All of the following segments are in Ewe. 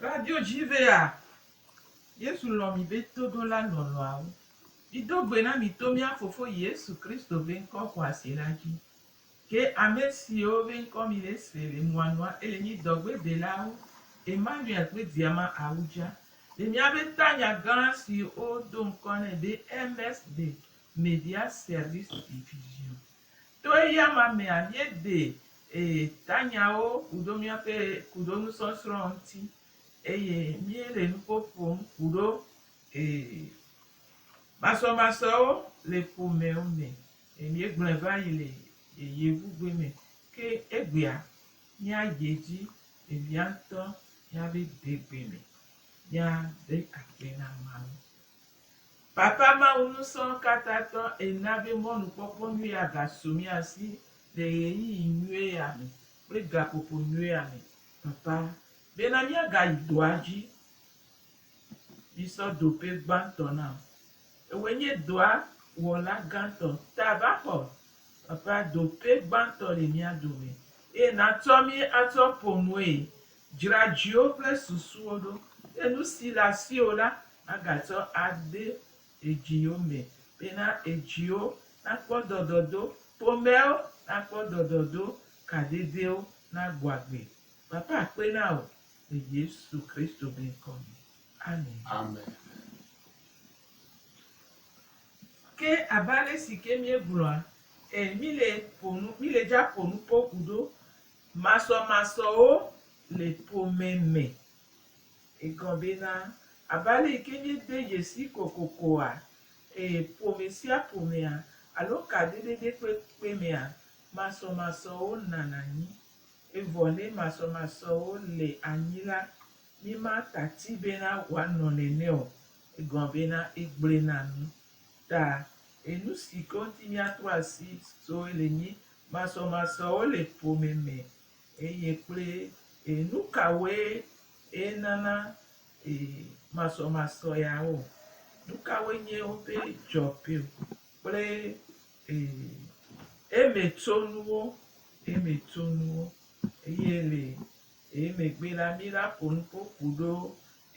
Radio Jivea, Yesu lɔ̃ mi be toɖola lɔlɔ̃awo. Mido gbe na mito mía Fofo Yesu Kristo be ŋkɔ xɔasi la dzi. Ke ame siwo be ŋkɔ mi le se le nua nua ele nyi dɔgbe delawo, Emmanuel kple Diama Awudja, le mía be tanya gã si wo do ŋkɔ nɛ be MS de Media Service Division. To eya ma mea, mie de e tanyawo kuɖo mía ƒe kuɖo nusɔsrɔ̃ ŋuti eye mie le nuƒo ƒom kuɖo e masɔmasɔewo le ƒomewo me. Eye míegblɔe va yi le yeyevugbe me. Ke egbea, míayi edzi le via ŋutɔ ya be degbe me míade akpe na Mawu. Papa Mawu Ŋusẽkatãtɔ, èna be mɔnukpɔkpɔ nyui ya gasu mía si le ɣeyiɣi nyui ya me kple gaƒoƒo nyui ya me, Papa, bena míagayi dɔa dzi. yi sɔ do ƒe gbãtɔ nam. Ewoe nye dɔa wɔla gãtɔ. Ta va xɔ eƒea do ƒe gbãtɔ le mía dome, eye natsɔ mí atsɔ ƒo nue. Dzra dziwò kple susuwò ɖo, eye nu si le asiwò la, agatsɔ ade edziwo me. Bena edziwo nakpɔ dɔdɔdo, ƒomewo nakpɔ dɔdɔdo, kadedewo nagbɔ agbe. Papa akpe na wò le Yesu Kristo be ŋkɔ me. Amen. Amen. Ke abe ale si ke míegblɔa e mí le ƒo nu mí le dza ƒo nu kpɔ ku ɖo masɔ masɔwo le ƒome me. Egɔ be na abe ale yi ke mí de dzesi kokokoa e ƒome sia ƒomea alo kadodoɖe kpekpe mea masɔ masɔwo nana anyi. Evɔ ne masɔmasɔwo le anyi la, mi ma tati bena woanɔ nɛnɛ o, egɔn bena egble na nu. Ta enu si ke ŋuti miato asi soe le nyi masɔmasɔwo le ƒome me eye kple enu kawoe eye nana masɔmasɔ yawo. Nu kawoe nye woƒe dzɔkpio kple Ee, eme tso nuwo, eme tso nuwo, eye le ee megbe la, mí la ƒo nu ƒo ku ɖo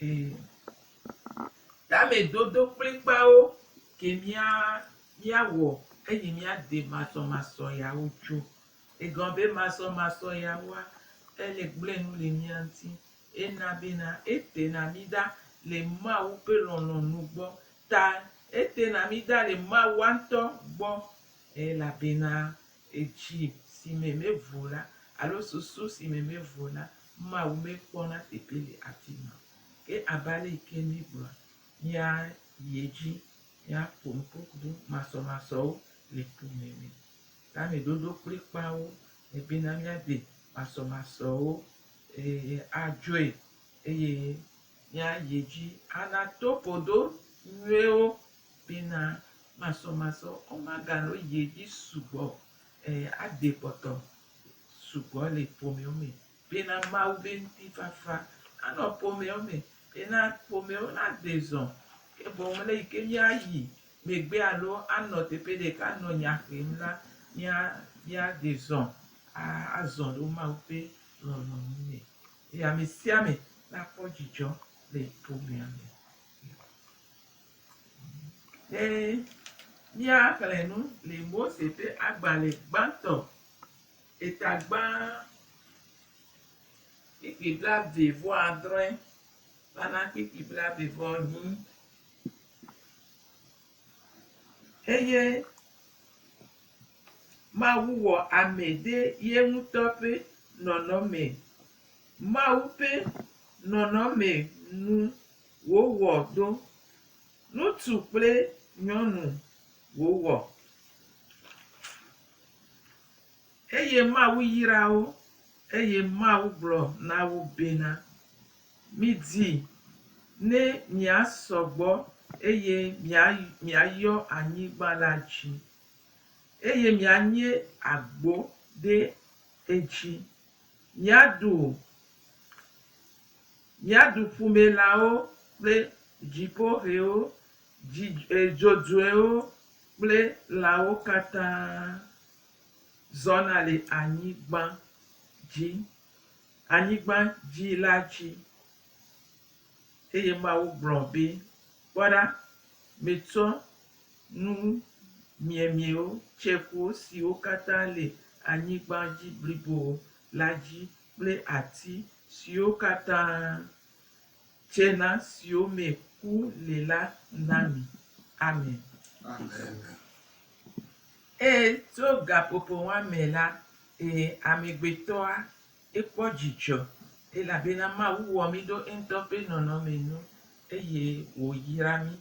ee tamedodo kplikpawo ke mía mía wɔ eyi mía de masɔmasɔ yawo tso. Egɔ be masɔmasɔ yawoa, ele gblẽ nu le mía ŋuti. Ena bena, etena mí ɖa le Mawu ƒe lɔlɔ̃nu gbɔ Ta ete na mí da le Mawua ŋutɔ gbɔ, elabena edzi si me mevo la, alo susu si me mevo la, Mawu mekpɔna teƒe le afi ma o. Ke abe ale yi ke míegblɔa, míayi edzi, míaƒo nukpokplu masɔmasɔwo le ku me me. Tameɖoɖo kplikpaawo le bena míade masɔmasɔwo, eye adzɔe, eye míayi dzi anato godo nyuiwo bena masɔmasɔ womagano yi dzi sugbɔ o. Ɛɛ, ade kpɔtɔ sugbɔ le ƒomewo me bena Mawu be ŋutifafa nanɔ ƒomewo me bena ƒomewo nade zɔ. Ke boŋ le yi ke míayi megbe alo anɔ teƒe ɖeka anɔ nya xem la, mía, míade zɔ a, azɔ ɖe Mawu ƒe lɔlɔ̃nu me. Eye amesiame nakpɔ dzidzɔ le ƒomea me. Ne míaxlẽ nu le Mose ƒe agbalẽ gbãtɔ, etagbã kpikpi blaeve vɔ adre, la na kpikpi blaeve vɔ nyi. eye Mawu wɔ ame ɖe ye ŋutɔ ƒe nɔnɔme. Mawu ƒe nɔnɔme nu wòwɔ ɖo. Ŋutsu kple nyɔnu wòwɔ eye Mawu yra wo eye Mawu gblɔ na wo bena, Midi ne miasɔ gbɔ eye miayɔ anyigba la dzi, eye mianye agbo ɖe edzi. Miaɖu ƒumelãwo kple dziƒohɛwo, dzodzoewo kple lãwo katã zɔna le anyigba dzi. anyigba dzi la dzi. Eye Mawu gblɔ be, Kpɔ ɖa, metsɔ nu miemiewo, tsekuwo siwo katã le anyigba dzi blibo la dzi kple ati siwo katã. Tsena siwo me ku le la na mi. Amen. Amen. Eye tso gaƒoƒo ma me la, ee, amegbetɔa, ekpɔ dzidzɔ, elabena Mawu wɔ mí ɖo eŋutɔ ƒe nɔnɔme nu, eye wòyra mí.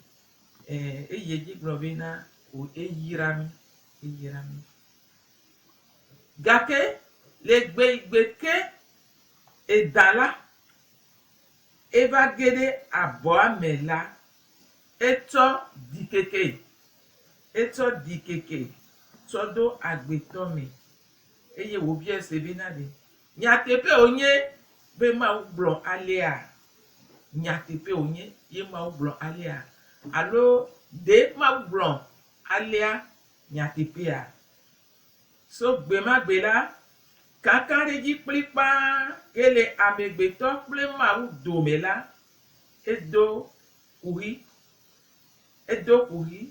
Ɛɛ, eyi edzi gblɔ bena, Wò, eyra mí. Eyra mí. Gake le gbeigbe ke, edã la. eva ge ɖe abɔa me la, etsɔ ɖikeke, etsɔ ɖikeke tsɔ ɖo agbetɔ me. Eye wòbiae se bena, Ɖe nyateƒee wònye be Mawu gblɔ alea? Nyateƒee wònye ye Mawu gblɔ alea? Alo ɖe Mawu gblɔ alea nyateƒea? So gbemagbe la, kankanɖedzi kplikpaa ke le amegbetɔ kple Mawu dome la, edo kuxi. Edo kuxi.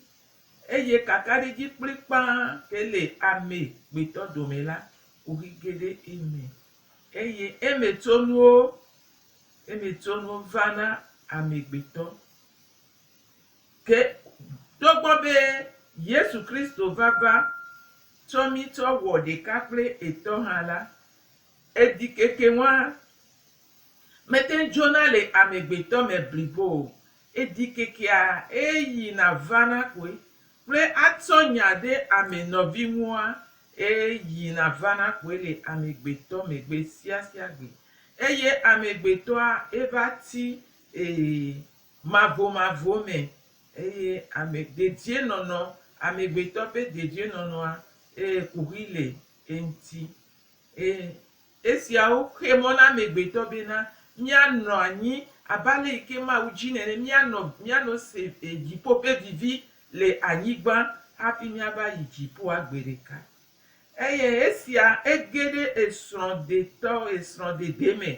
Eye kankanɖedzi kplikpaa ke le amegbetɔ dome la, kuxi ge ɖe eme. Eye emetsonuwo, emetsonuwo vana amegbetɔ. Ke togbɔ be Yesu Kristo vava tsɔ mí tsɔ wɔ ɖeka kple etɔ hã la, eɖikeke ŋua mete ŋu dzona le amegbetɔ me blibo o. Eɖikekea eye yina vana koe kple atsɔ nya ɖe ame nɔvi ŋua eye yina vana koe le amegbetɔ me gbe sia sia gbe. Eye amegbetɔa eva ti e mavomavo me, eye ame dedienɔnɔ, amegbetɔ ƒe dedienɔnɔa ee, kuxi le eŋuti. Ee, esiawo xe mɔ na amegbetɔ bena míanɔ anyi abe ale yi ke Mawu dzi nene, míanɔ, míano se dziƒo ƒe vivi le anyigba hafi míava yi dziƒoa gbe ɖeka. Eye esia ege ɖe esrɔ̃ɖetɔ, esrɔ̃ɖede me.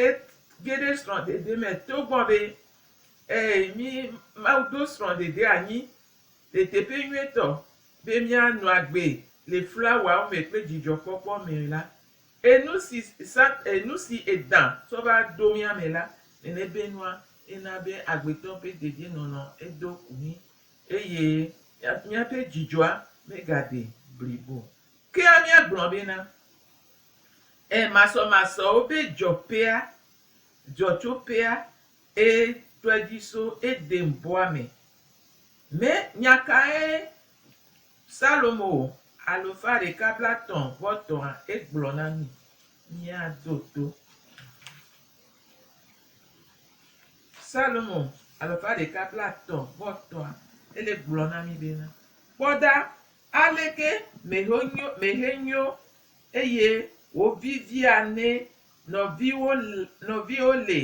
Et, ge ɖe srɔ̃ɖede me togbɔ be, e, mí, Mawu ɖo srɔ̃ɖede anyi ɖeteƒe nyuietɔ be míanɔ agbe le flawawo me kple dzidzɔkpɔkpɔ me la. Enu si Sat, enu si Edã tsɔ va ɖo mía me la, nene be nua, ena be agbetɔ ƒe dedienɔnɔ edo ku mí. Eye míaƒe dzidzɔa megaɖi blibo o. Kea míagblɔ bena, Ẽ, masɔmasɔwo ƒe dzɔƒea, dzɔtsoƒea, ẽ, trɔe dzi so Eden-bɔa me. Me nya kae Salomo, Alufã ɖeka blatɔ̃ vɔ tɔ̃a, egblɔ na mí? Míado to. Salomo alafa ɖeka blaetɔ̃ vɔ etɔ̃a, ele gblɔ na mí bena, Kpɔ ɖa, aleke mèhe nyo mèhe nyo eye wòvivia ne nɔviwo nɔviwo le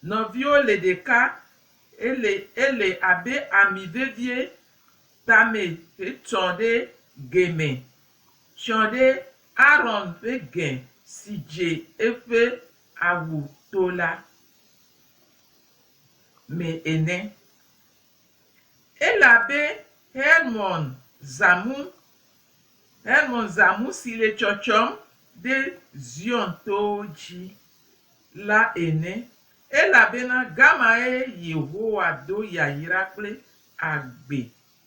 nɔviwo le ɖeka ele ele abe ami vevie tame hetsɔ ɖe ge me. Tsɔ ɖe Aron ƒe ge si dze eƒe awu to la me ene. Elabe Hermon zãmu, Hermon zãmu si le tsɔtsɔm ɖe Zion towo dzi la ene, elabena gamae Yehowa do yayra kple agbe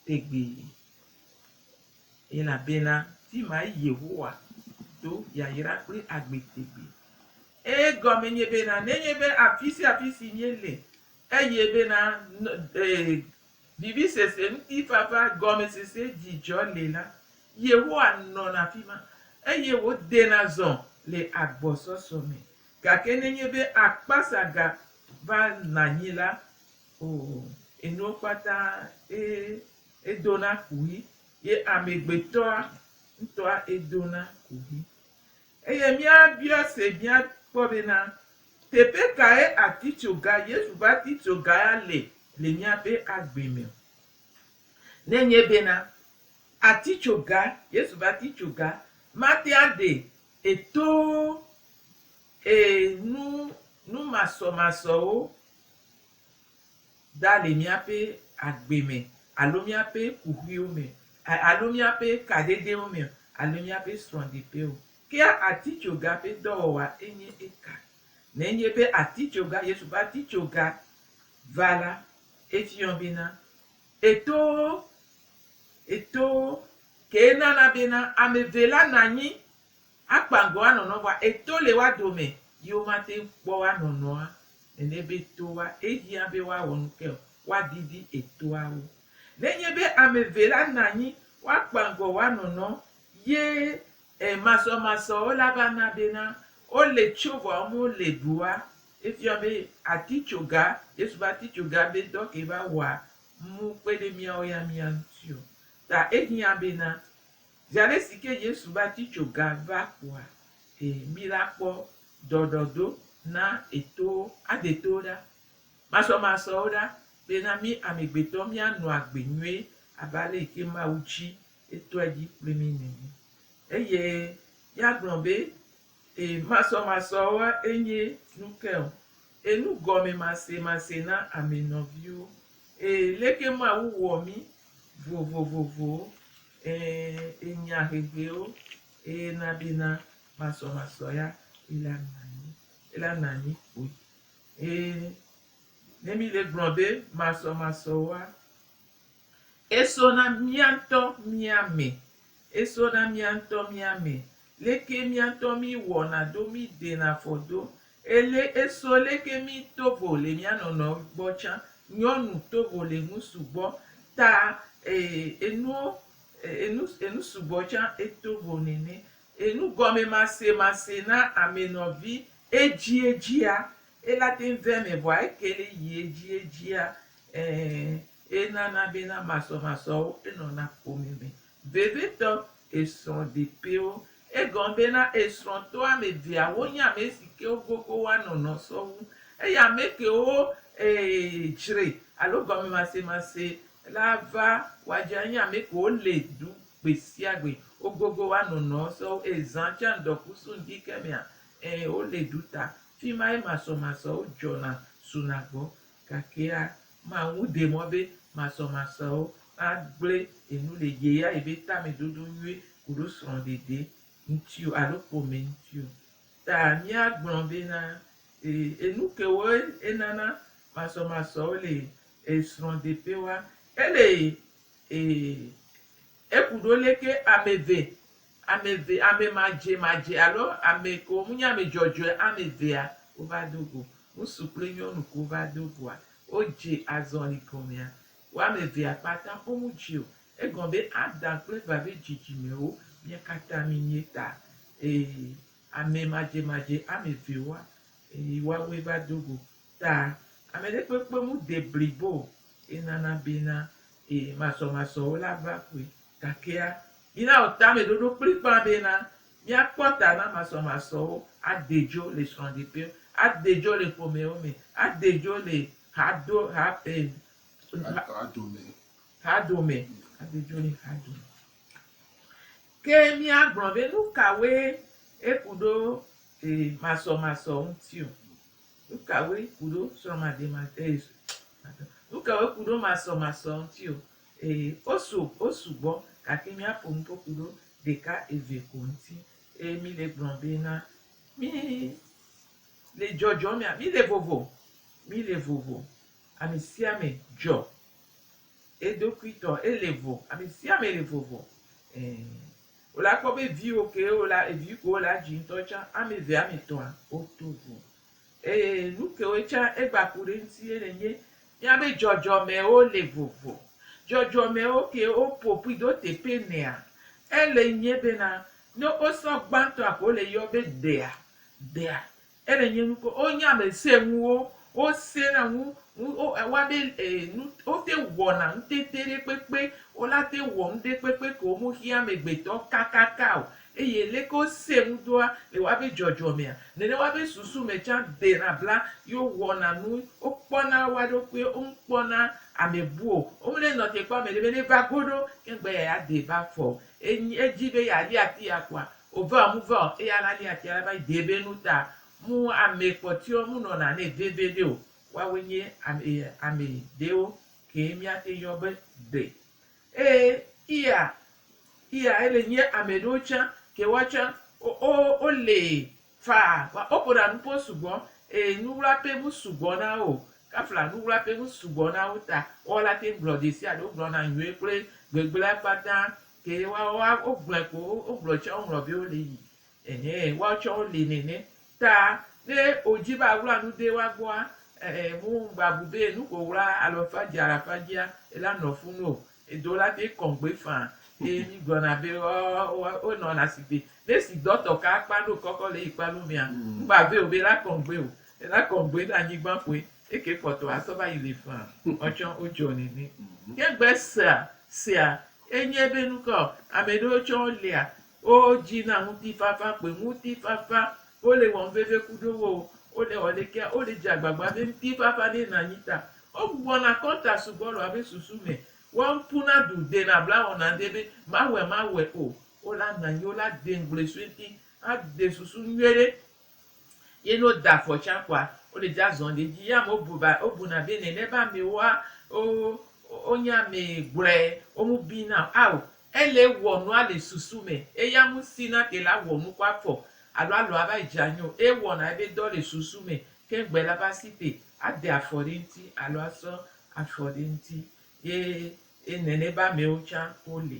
tegbee. Elabena fi mae Yehowa do yayra kple agbe tegbee. Eye gɔme nye bena, nenye be afi sia afi si míele, eye bena vivisese, ŋutifafa, gɔmesese, dzidzɔ le la, Yehowa nɔna afi ma, eye wòdena zɔ le agbɔsɔsɔ me. Gake nenye be akpasa gavana anyi la, o, enuwo kpata edona kuxi, ye amegbetɔa ŋutɔa edona kuxi. Eye míabia se míakpɔ bena, teƒe kae atitsoga, Yesu ƒe atitsoga ya le le míaƒe agbe me? Ne enye bena, atitsoga, Yesu ƒe atitsoga mate aɖe e to e nu numasɔmasɔwo, da le míaƒe agbe me alo míaƒe kuxiwo me alo míaƒe kaɖedɛwo me alo míaƒe srɔ̃ɖeƒe o. Ke atitsoga ƒe dɔwɔwa enye eka. Nenye be atitsoga, Yesu ƒe atitsoga va la, efiɔ bena, eto, eto, kee nana bena ame eve la nɔ anyi Akpa ŋgɔ anɔnɔ vɔa eto le woa dome yi wo ma te ŋu kpɔ woa nɔnɔa nene be toa ehiã be woa wɔ nuke o, woa didi etoa wo. Ne nye be ame eve la na anyi woa kpa ŋgɔ woa nɔnɔ ye e masɔ masɔ wo la va na be na wo le tso vɔa wo me le ɖoa, efia be atitsoga, Yesu ƒe atitsoga be dɔ ke va wɔa mu kpe ɖe miawo ya mia ŋuti o. Ta ehiã be na Zi aɖe si ke Yesu va tsi tso ga va ƒoa e mí la kpɔ dɔɖɔdo na etowo, ade towo ɖa, masɔmasɔwo ɖa be na mí amegbetɔ míanɔ agbe nyuie abe ale yi ke Mawu tsi etɔe dzi kpli mí nene. Eye yagblɔ be. E masɔmasɔwoa e nye nu ke o e nu gɔme mase mase na ame nɔviwo e leke ma wu wɔ mi vo vo vo vo e e nya hehewo e na be na masɔmasɔ ya e la nanyi e la nanyi kpoe e ne mi le gblɔ be masɔmasɔwoa Eso na mía ŋutɔ mía me. Eso na mía ŋutɔ mía me. Leke mía ŋutɔ mí wɔna do mí ɖena fɔ do. Ele eso leke mí tovo le mía nɔnɔe gbɔ tsã. Nyɔnu tovo le nu sugbɔ ta ee enuo enu enu sugbɔ tsã etovo nene. Enu gɔme mase mase na ame nɔvi edzi edzia Ela teŋ vea eme vɔa ekeli yi edzi edzia eeee enana bena masɔmasɔwo enɔna ƒome me vevitɔ esrɔ̃ɖeƒewo. Egɔme bena esrɔ̃tɔ ame eveawo nye ame si ke wogogo woanɔ nɔ sɔwu eye ame kewo eee dzre alo gɔmemasemase la va wɔadze anye ame kewo le du gbesiagbe wogogo woanɔ nɔ sɔwu eye zã tsa ŋdɔkusu ŋdi ke mea eeee wole du ta Fi mae masɔmasɔwo dzɔna suna gbɔ, gakea Mawu ɖe mɔ be masɔmasɔwo magblẽ enu le yeyaye be tamedodo nyui koɖo srɔ̃ɖeɖe ŋuti o alo ƒome ŋuti o. Ta míagblɔ bena, Ee, enu kewoe enana masɔmasɔwo le srɔ̃ɖeƒewoa? Ele ee, eku ɖo leke ame eve Ame eve, ame madzemadzea alo ame kewo menye ame dzɔdzɔea, ame evea wova do go. Ŋutsu kple nyɔnu kewo va do goa, wodze azɔli gɔmea, wo ame evea kpata womedze o. Egɔme be Adam kple Eva ƒe dzidzimewo mía katã míenye ta. Ee, ame madzemadze ame evewoa, ee, woawoe va do go ta. Ame ɖe kpekpe mede blibo o. Enana bena, ee, masɔmasɔwo la va ƒoe. Gakea, mina wò tameɖoɖo kplikpaa bena míakpɔ ta na masɔmasɔwo, ade dzo le srɔ̃ɖeƒewo, ade dzo le ƒomewo me, ade dzo le hado, ha, e, ha, Hadome. hadome, ade dzo le hadome. Ke míagblɔ be nu kawoe eku ɖo e, masɔmasɔ ŋuti o. Nu kawoe ku ɖo srɔ̃mademade, e, nu kawoe ku ɖo masɔmasɔ ŋuti o. Ee, wosu, wosu gbɔ, gake míaƒo nu ƒo ƒu ɖo ɖeka eve ko ŋuti. Eye míle gblɔm be na mí le dzɔdzɔm mía, mí le vovo, mí le vovo. Ame sia ame dzɔ eɖokui tɔ, ele vo, ame sia ame le vovo. Ee, wole akpɔ be viwo kewo la, evi kewo le adzi ŋutɔ tsã, ame eve, ame etɔ̃a, woto vo. Ee, nu kewoe tsã egba ku ɖe eŋuti ye nenye míabe dzɔdzɔmewo le vovo. Dzɔdzɔmewo ke woƒo ƒui do teƒe nea? Ele nye bena, ne wosɔ gbãtɔa ko le yɔ be dea, dea, ele nye nu ko wonye ame sẽŋuwo, wosẽna ŋu, ŋu wo ewɔa be e nu wote ŋu wɔna nutete ɖe kpekpe, wolate ŋu wɔ nuɖe kpekpe ke womexiã amegbetɔ kakaka o. Eye leke wosee ŋu doa le woabe dzɔdzɔmea, nenema be susu me tsã dena bla, ye wowɔna nu, wokpɔna woa ɖokui, womkpɔna ame bu o, womenenɔ te kpɔ ame ɖe be neva go ɖo, ke ŋgbe eya ya dee va fɔ o. Enyi edzi be yeali ati ya kpoa, wòve ɔ, muve ɔ, eya la li atia la va yi dee be nu ta mu ame kpɔtɔewo munɔna nɛ veviɖe o. Woawoe nye ame, ame ɖewo kee míate yɔ be gbe. Ee, iya, iya, ele nye ame ɖewo tsã ke woa tsã wo, wo, wole faa, wa, woƒona nu ƒo sugbɔ, ee, nuwlaƒe ŋu sugbɔ na wo, kafla nuwlaƒe ŋu sugbɔ na wo ta woawo la teŋ gblɔ ɖesiaɖe, wogblɔna nyuie kple gbegblẽa kpata, ke woawo la, wogblɔe ko, wo, wogblɔe tsã, woŋlɔ be wole yi, Ɛhɛ, woawo tsɛ woli nɛnɛ. Ta ne wòdzi be aɣla nu de woa gbɔa, ɛ, ɛ, mu ŋgba bu be nu ko ɣla alo efa dzi alo afa dzia, ela nɔ fu nu o. Edo la te kɔŋ gbe faa. Eye mí gblɔna be, ɔ, ɔ, wonɔna sigbe. Ne si dɔtɔ ka akpa ɖo kɔkɔ le eyi kpa lo mea, ŋgba vɛ o be ela kɔŋ gbe o. Ela kɔŋ gbe ɖe anyigba ƒoe. Eke kpɔtɔ asɔ va yi li faa. Woawo tsɛ wodzɔ nɛnɛ. Ke ŋgbe sea, sea, enye be nukɔ, amɛ ɖewo tsɛ wolia Wo dzi na ŋutifafa kpoe, ŋutifafa, wo le wɔm veve ku ɖo wo, wo le wɔ ɖekea, wo le dze agbagba be ŋutifafa ne na nyi ta. Wo gbugbɔ na kɔnta sugbɔ le woabe susu me, wo ŋku na ɖu de na bla wɔ na ŋɖe be ma wɔe ma wɔe o, wo la na nyi, wo la de ŋgble sue ŋti a de susu nyuie ɖe Ye ne woda afɔ tsã kpɔa, wole dza zɔm ɖe edzi. Ye amewo bu ba, wobuna be nene be amewoa, wo, wonye ame gblɔe, wo ŋu biina o. Ao, ele wɔ nua le susu me. Eya ŋuti na te la wɔ nu kɔ afɔ alo alɔ ava dze anyi o. Ewɔna ebe dɔ le susu me keŋ gbe la va si te ade afɔ ɖe eŋuti alo asɔ afɔ ɖe eŋuti. Ye nene be amewo tsã wole.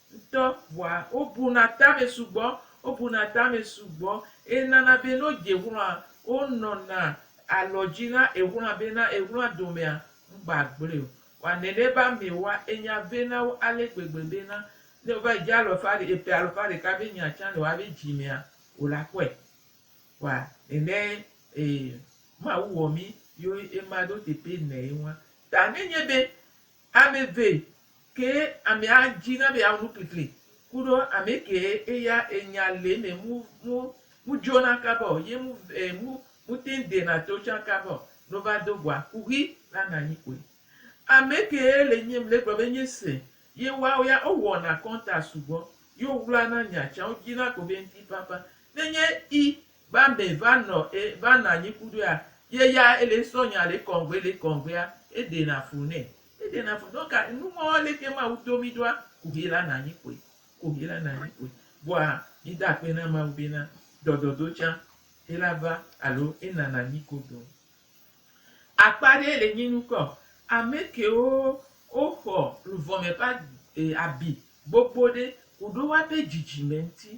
ŋutɔ vɔa wobuna tame sugbɔ, wobuna tame sugbɔ eye nana be ne wodze ŋlɔa wonɔna alɔdzi na eŋlɔa be na eŋlɔa domea ŋgba gblɔe o. Vɔa nene be amewoa enya ve na wo ale gbegbe be na ne wova yi dze alɔ ƒe aɖe eƒe alo ƒe aɖeka be nya tsã le woabe dzi mea wole akpɔe. Vɔa nene e Mawu wɔ mí yo ema ɖo teƒe nɛ ye ŋua. Ta ne nye be Ame eve kee amea dzi na be yeawɔ nu kplikpli kuɖo ame kee eya enya le eme mu mu mu dzona kaba o ye mu e mu mu teŋ dena to tsã kaba o ne wova do goa kuxi la nɔ anyi kpoe. Ame kee le nyem le gblɔ be nye se ye woawo ya wowɔna kɔnta sugbɔ ye wowlana nya tsã wodzina ko be ŋti ƒaƒã. Ne nye i va mɛ va nɔ e va nɔ anyi kuɖoea ye ya ele ŋsɔ nya le kɔŋgbe le kɔŋgbea e ɖe na fu nɛ e ɖe na fu donc a nu ŋɔ leke mawu do mi ɖoa ku hi la na anyi kpoe ku hi la na anyi kpoe vɔa mi da akpe na mawu be na dɔdɔdo tsa e la va alo e nana anyi godo. Akpa aɖee le nyi nukɔ amɛkewo wo xɔ luvɔme ƒe abi gbogbo ɖe koɖo woabe dzidzime ŋuti.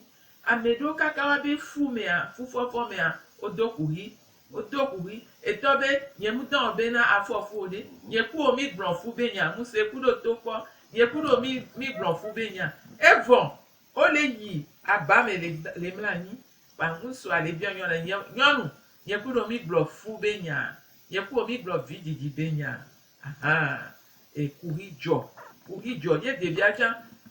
Amɛɖewo kaka woabe fu mea, fufɔfɔ mea, wo do kuxi, wo do kuxi etɔ be nye mu dɔn be na afɔ fu o ɖe, nye kuwo mi gblɔ fu be nya ŋuse kuɖo to kpɔ, nye kuɖo mi gblɔ fu be nya. Evɔ O le yi aba me le le mla anyi kpa ŋusua le biɔ nyɔ le nye nyɔnu nye ku ɖo mi gblɔ fu be nya nye ku mi gblɔ vi didi be nya ahan e kuxi jɔ kuxi jɔ ye ɖevia tsa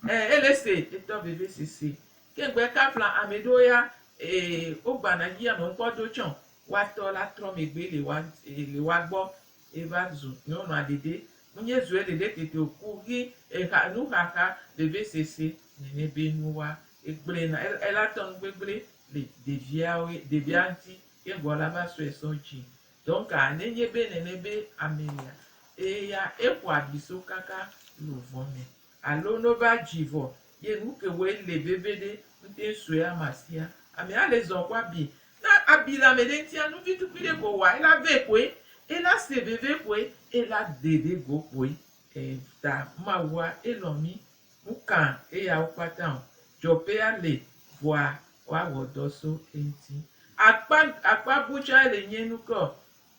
e ele se etɔ veve sese ke ŋgbe ka fla ame ɖewo ya e wo gbana yi ame ŋkpɔ do tsɔ wa tɔ la trɔ megbe le wa e le wa gbɔ Eva zu nyɔnua ɖeɖe. Munye zue ɖeɖe tete o ku hi eha nuxaxa veve sese nene be nu wa. Egblɔe na el ela tɔnu gbegble le ɖeviawo ɖevia ŋuti ke egɔa la va sɔe sɔ dzi. Donc a nenye be nene be ame lia eya eƒo abi so kaka lovɔ me Alo no va dzi vɔ ye nu ke wɔ ele veve ɖe ŋte sɔe ama sia. Ame a le zɔ kɔ abi. Na abi le ame ɖe ŋtia nu vi tukui ɖe ko wa ela ve koe, ela se veve koe, ela de ɖe go koe. Elta Mawu a elɔ mi. Nu ka eyawo kpata ɔ? Dzɔƒe a le vɔa wa wɔ dɔ so eŋti. Akpa akpa bu tsa ele nyɛ nu ke ɔ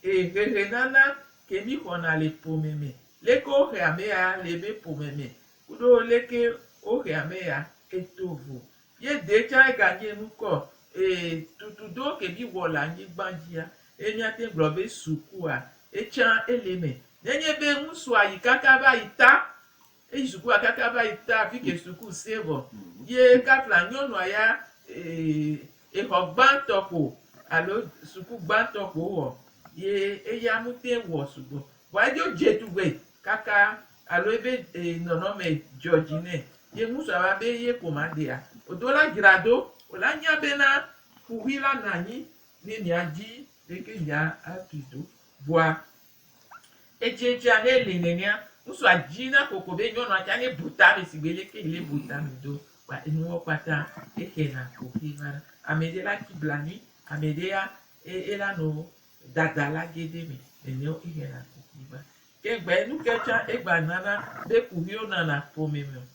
Ee, hehenana ke míxɔna le ƒome me, leke wohe ame ya le ebe ƒome me kuɖo leke wohe ame ya eto vo ye dee tsã eganye nukɔ. Ee, tutu do ke míwɔ le anyigba dzia, ye míate ŋu gblɔ be sukua etsã ele eme. Nenye be ŋutsua yi kaka va yi ta Eyi sukua kaka va yi ta fike suku sɛ̃ vɔ ye kafla nyɔnua ya exɔ gbãtɔ kpo alo suku gbãtɔ kpo wowɔ ye eya mutɛn wɔ sugbɔ. Vɔa edzo dze tugbe kaka alo ebe nɔnɔme dzɔ dzi nɛ ye ŋusɔ ava be ye ko ma ɖea o do la dzra do o la nya be na ƒuʋui la nɔ anyi ne mia dzi ɖeke mia tui do vɔa Etsɛ tsia he le nenea, ŋutsu a dzi na koko be nyɔnu a tsa ne bu ta me sigbe leke yi ne bu ta me do kpa enuwo kpata exe na ko xe va na. Ame ɖe la tsi blanui, ame ɖe ya e ela no dada la ge ɖe me nene wo exe na ko xe va. Ke ŋgbe enu ke tsa egba nana be kuxiwo nana ƒome me o.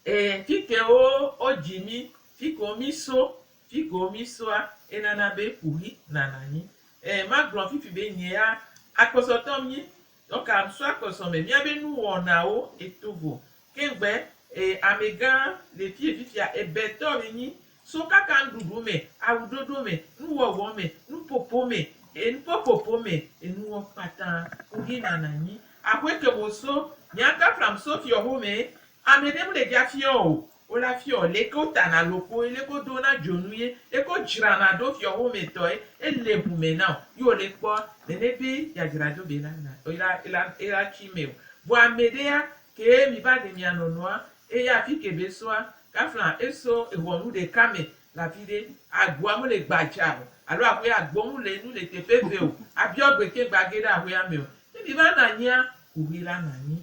E fike wo wo dzi mi, fike wo mi so, Figo mi soa e nana be ku hi nana nyi e ma glɔ fifi be nye ya akpɔsɔ tɔ mi tɔ ka so akpɔsɔ me mia be nu wɔ na wo e to vo keŋ gbe e ame gã le fie fifia e be tɔ mi nyi so kaka nu ɖuɖu me awu ɖoɖo me nu wɔ wɔ me nu popo me e nu po popo me e nu wɔ kpata ku hi nana nyi axwe ke mo so mia ka flam so fiɔ ho me ame ɖe mu le dja fiɔ o Wo la fiɔ leke wo tana loxo ye leke wo do na dzonu ye leke wo dzrana ɖo fiɔ xomɛ tɔ ye e le ŋu mɛ na o yi wo le kpɔ nɛnɛ be ya dzra ɖo be la na ela ela ela tui mɛ o. Vɔ amɛ ɖe ya ke mi va ɖe mia nɔnɔ a e ya afi ke be so a ka fla e so ehɔnu ɖeka mɛ le afi ɖe agua mu le gbadza o alo axɔe agbo mu le nu le teƒe eve o a biɔ gbe ke gba ge ɖe axɔea mɛ o. Ne mi va na anyi a, kuxi la na anyi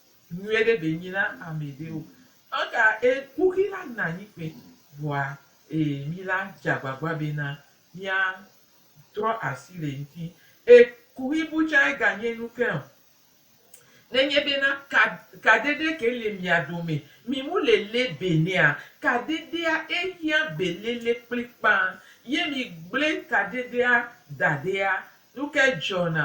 Nyuie ɖe ɖe nyi na ame ɖe o. Eka e kuxi la na anyi kpe vɔa e mi la dze agbagba be na mia trɔ asi le ŋti. E kuxi bu tsa e ga nye nu ke o. Ne nye be na ka kade ɖe ke le mia dome, mi mu le le be nɛa? Kadedea e hiã be lele kplikpã. Ye mi gble kadeɖea da ɖea, nu ke dzɔ na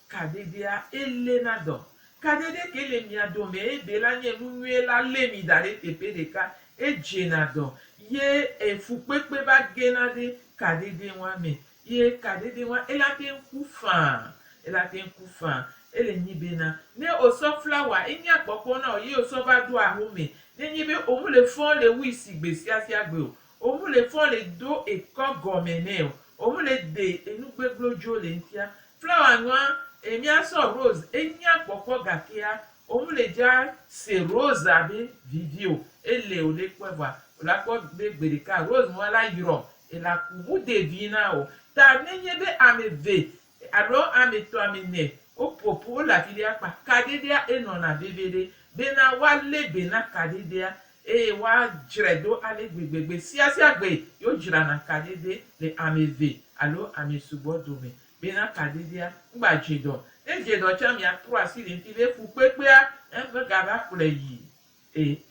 Kadedea ele na dɔ. Kadede ke le mia dome ebe la nye nu nyuie la le mi da ɖe teƒe ɖeka, edze na dɔ, ye e fukpekpe va ge na ɖe kadede ŋua me. Ye kadede ŋua ela teŋ ku faa, ela teŋ ku faa. Ele nyi be na, ne o sɔ flawa enye akpɔkpɔ na o ye o sɔ va ɖo aho me, ne nye be o mu le fɔn le wui si gbe sia sia gbe o, Omu le fɔ le do ekɔ gɔmɛ nɛ o. Omu le de enu gbeglo jo le ŋtia. Flawa nua e mia sɔ rose e nya kpɔkpɔ gakea omu le ja se rose abe vivi o. E le o le kpɔɛ vɔa o la kpɔ be gbeɖeka rose nua la yrɔ ela ku. Mu de vi na o. Ta ne nye be ameve Alo ame tɔ̃ ame ne woƒo ƒu wole afi ɖe akpa kaɖiɖia enɔna veviɖe bena woalé be na kaɖiɖia eye woadzrae do ale gbegbe gbe sia sia gbe yewo dzrana kaɖiɖe le ame eve alo ame sugbɔ dome bena kaɖiɖia ŋgba dze dɔ ne edze dɔ tsa mia trɔ asi le ŋti be fukpekpea eme gava kplɔe yi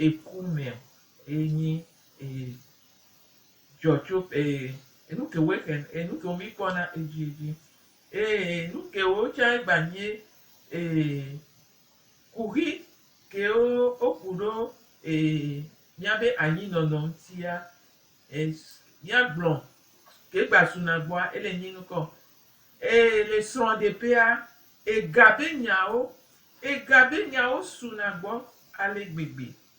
eku me o enyi Dzɔ tso ee enu ke woe xen ee nu ke wo mi kpɔ na edzi edzi ee nu ke wo tsa egba nyie ee kuxi ke wo oku ɖo ee mia be anyi nɔnɔ ŋtia es mia gblɔ ke gba su na gbɔa ele nyi nukɔ ee le srɔ ɖe ƒea ega be nyawo ega be nyawo su na gbɔ ale gbegbe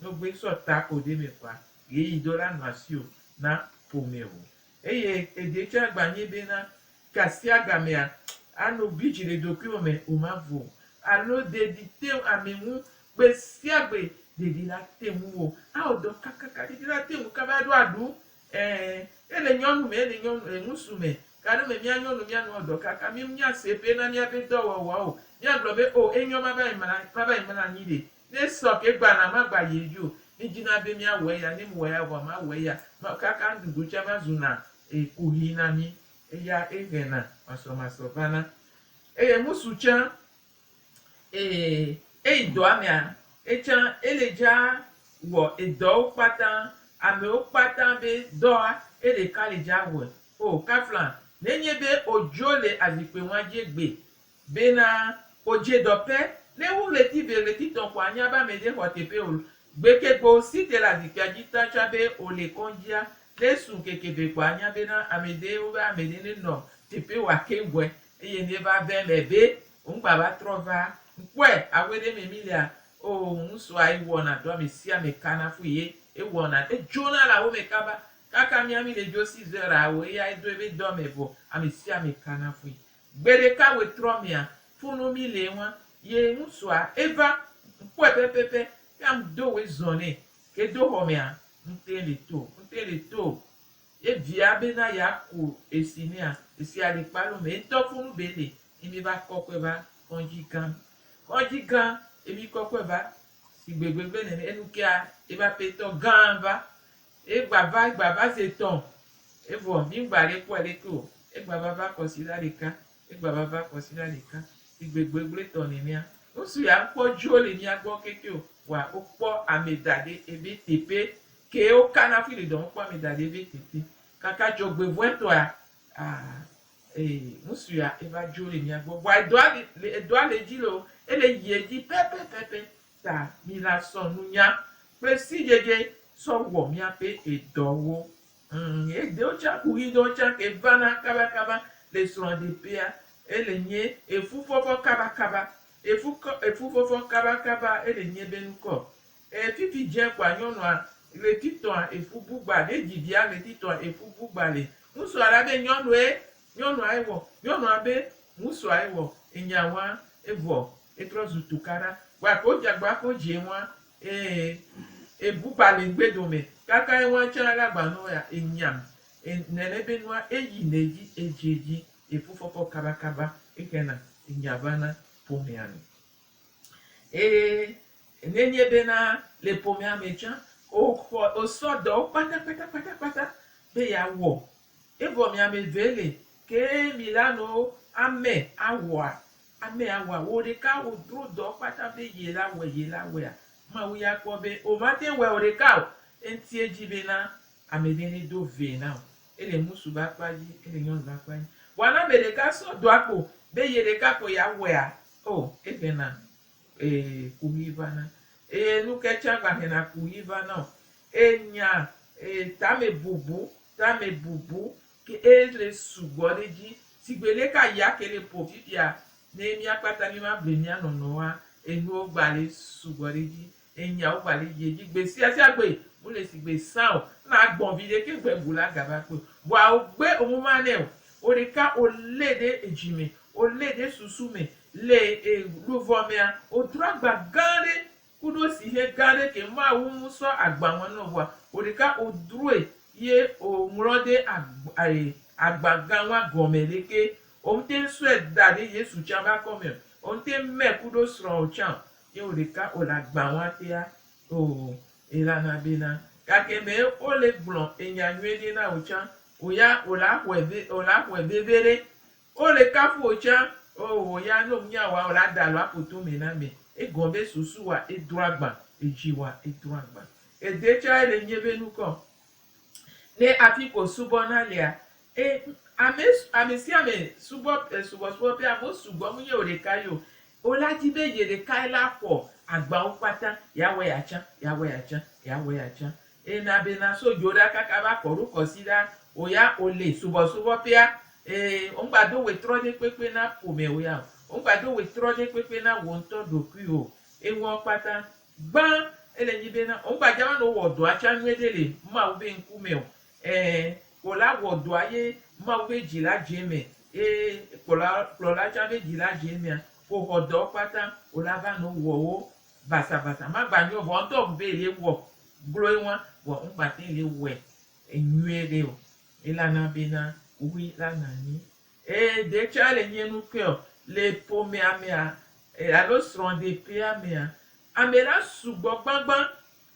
No gbe sɔ ta o ɖe me kpa ye yi dɔ la nɔ asi o na ƒome o. Eye eɖe tsɛ agba nye be na kasia gamea a no gbe dzi le ɖokuiwò me o ma vo o. Alo ɖeɖi te ŋu ame ŋu gbe sia gbe ɖeɖi la te ŋu wo a wɔ dɔ kakaka ɖeɖi la te ŋu kaba ɖo aɖu. Ɛ, e le nyɔnu me e le nyɔnu e ŋusu me. Gaɖe me mía nyɔnu mía nua wɔ dɔ kaka mi mía se be na mía be dɔ wɔwɔ o. Mía gblɔ be o e nyɔ ma va yi mla ma va yi mla anyi ɖe Ne sɔ ke gba na ma gba ye yo. Mi dzi na be mi a wɔ eya, ne mi wɔ eya vɔa ma wɔ eya. Ma kaka nuɖuɖu tse ma zu na e kuxi na mi. Eya e ŋɛ na masɔ masɔ va na. Eye ŋusu tse e eyi dɔa mea etsa e le dza wɔ edɔwo kpata. Amewo kpata be dɔa e ɖeka le dza wɔe. O kafla ne nye be o dzo le azikpe ŋua dzi egbe Bena o dje dɔ pe ne wu ɣleti ve ɣleti tɔn kɔ anya be ame de xɔ tepe ol. Gbe ke gbe o si te le azikpia dji ta tsa be o le kɔndzia. Ne su ŋkeke ve kɔ anya bena ame de wo be ame de ne nɔ tepe wa ke ŋgɔe. Eye ne va ve me be o ŋgba va trɔ va ŋkpɔe awe ɖe me mi lia o ŋ so ayi wɔ na do ame sia ame ka na fu ye e wɔ na e djo na le awo me kaba. Kaka mia mi le djo si Zera wo eya e do ebe dɔ me vɔ ame sia ame ka na fui. Gbeɖeka ɣetrɔ mea fo no mi le eŋua ye ŋutsua eva kpɔe pɛpɛpɛ ke am do we zɔn nɛ ke do xɔ mea ŋte le to ŋte le to ye via be na ya ko esi nea esi ale kpa lo me ŋtɔ fo nu be le emi va kɔ kɔe va kɔdzi gan kɔdzi gan emi kɔ kɔe va si gbegbe be nene enu kea eba petɔ gan va Egba va, egba va ze etɔ̃, evɔ mi ŋgba ɖe kpɔɛ ɖeke o. Egba va va kɔsiɖa ɖeka, egba va va kɔsiɖa ɖeka, sigbe gbegble tɔ nenea. Ŋsu ya ŋkpɔ djo le mia gbɔ keke o, wa wo kpɔ ame daɖe ebe tepe ke wo ka na fui le dɔ ŋu kpɔ ame daɖe ebe tepe. Kaka djɔgbevɔɛ tɔa, aa, ee, ŋsu ya eva djo le mia gbɔ. Vɔa edɔa le, edɔa le edji le o, ele yi edji pɛpɛpɛpɛ Ta mi la sɔ nunya kple sidzedze sɔ wɔ miaƒe edɔwo. Ŋ, edewo tsa ku ɣidɔwo tsa ke vana kabakaba le srɔɖeƒea. Ele nye efufɔfɔ kabakaba. Efu kɔ, efufɔfɔ kabakaba ele nye be nukɔ. E, fifi dze kɔa nyɔnua ɣletitɔa efu bugba ɖe dzi via ɣletitɔa efu bugba le. Ŋutsua la be nyɔnue Nyɔnua ewɔ, nyɔnua be ŋusua ewɔ, enya wa, evɔ etrɔ zu tukaɖa. Wa ko jagba ako djie wa, ee ebu ba le ŋgbe dome, kaka ewa tsa la gba nɔ ya, enyam, e nɛnɛ be nua eyi nɛ dji, edjie dji, efu fɔfɔ kaba kaba, exena enya va na ƒomea me. Eye ne nye be na le ƒomea me tsa, o xɔ, o sɔ dɔwo kpata kpata kpata kpata be ya wɔ Evɔ miameve le ke mi la no amɛ awɔa amɛ awɔa wo ɖeka wo dro dɔ kpata be ye la wɛ ye la wɛa mawu ya kpɔ be o ma te wɛ o ɖeka o enti edji be na amɛɖe ne do vɛ na o ele ŋusu be akpa dji ele nyɔnu be akpa dji vɔa na amɛ ɖeka sɔ dɔa kpo be ye ɖeka kpo ya wɛa o eʋɛ na Eye kuɣi va na. Eye nu ke tsã gbahɛna kuɣi va na o. Eye nya, eye tame bubu, tame bubu ke eye le sugbɔ ɖe edzi. Sigbe lé ka ya ke le ƒo fifia, ne mía kpata mí ma ble mía nɔnɔwoa, enuwo gba le sugbɔ ɖe edzi. Eye nyawo gba le yie dzi gbe sia sia gbe. Mu le sigbe sã o. Ena agbɔn viɖe ke ŋgbe ŋu la ga va kpɔe o. Vɔa wo gbe wo mu ma nɛ o. Wo ɖeka wo lé ɖe edzi me. Wolée ɖe susu me le e luvɔ mea, wodro agba gã ɖe kuɖo sihɛ gã ɖe ke maa wu ŋu sɔ agba ŋɔ nɔ vɔa oɖeka odroe ye o ŋlɔ ɖe agba e agba gã ŋɔa gɔmɛ ɖe ke. Omtɛn sɔɛ da ɖe Yesu tsan be akɔ mɛ o, omtɛn mɛ kuɖo srɔa o tsan o, ye oɖeka ole agba ŋɔa tea o elana bena gake mɛ ole gblɔ enya nyuiɖe na o tsan o ya ola xɔɛ ve ola xɔɛ veveɖe O le kafu wò tsã. Oo wò ya ne wò nya wa o la da alo aƒo to mɛ na mɛ. E gɔn be susu wa e drɔ agban, edzi wa e drɔ agban. Ede tsã e le nyɛ be nukɔ. Ne afi ko subɔ na lea, e ame ame sia ame subɔ e subɔ subɔ ƒe ame wo sugbɔ mu nyɛ wò ɖeka yio. O la dzi be ye ɖeka ye la xɔ agban wo kpata. Ya wɛ ya tsã, ya wɛ ya tsã, ya wɛ ya tsã. Eye na be na so dzo ɖa kaka va kɔ ɖo kɔ si ɖa o ya o le subɔ subɔ pea ee o ŋgba do we trɔ ɖe kpekpe na ƒome o ya o ŋgba do we trɔ ɖe kpekpe na wo ŋtɔ ɖokui o eŋuɔ kpata gbã ele nyi be na o ŋgba dja va nɔ wɔ dɔa tsa nyuie ɖe le mawu be ŋku me o ee o la wɔ dɔa ye mawu be dji la dje eme ee kplɔla kplɔla tsa be dji la dje emea ko xɔ dɔwo kpata o la va nɔ wɔ wo basa basa ma gba nyuiɔ vɔ ŋtɔ ŋu be ye wɔ Gloe ŋua, vɔ ŋ gba te le wɛ enyuie ɖe o. Ela na be na ŋui la na nyi. Ee, de tsɔa le nyi nu ke o. Le ƒomea mea, alo srɔ̃ de ƒea mea, ame la sugbɔ gbagba.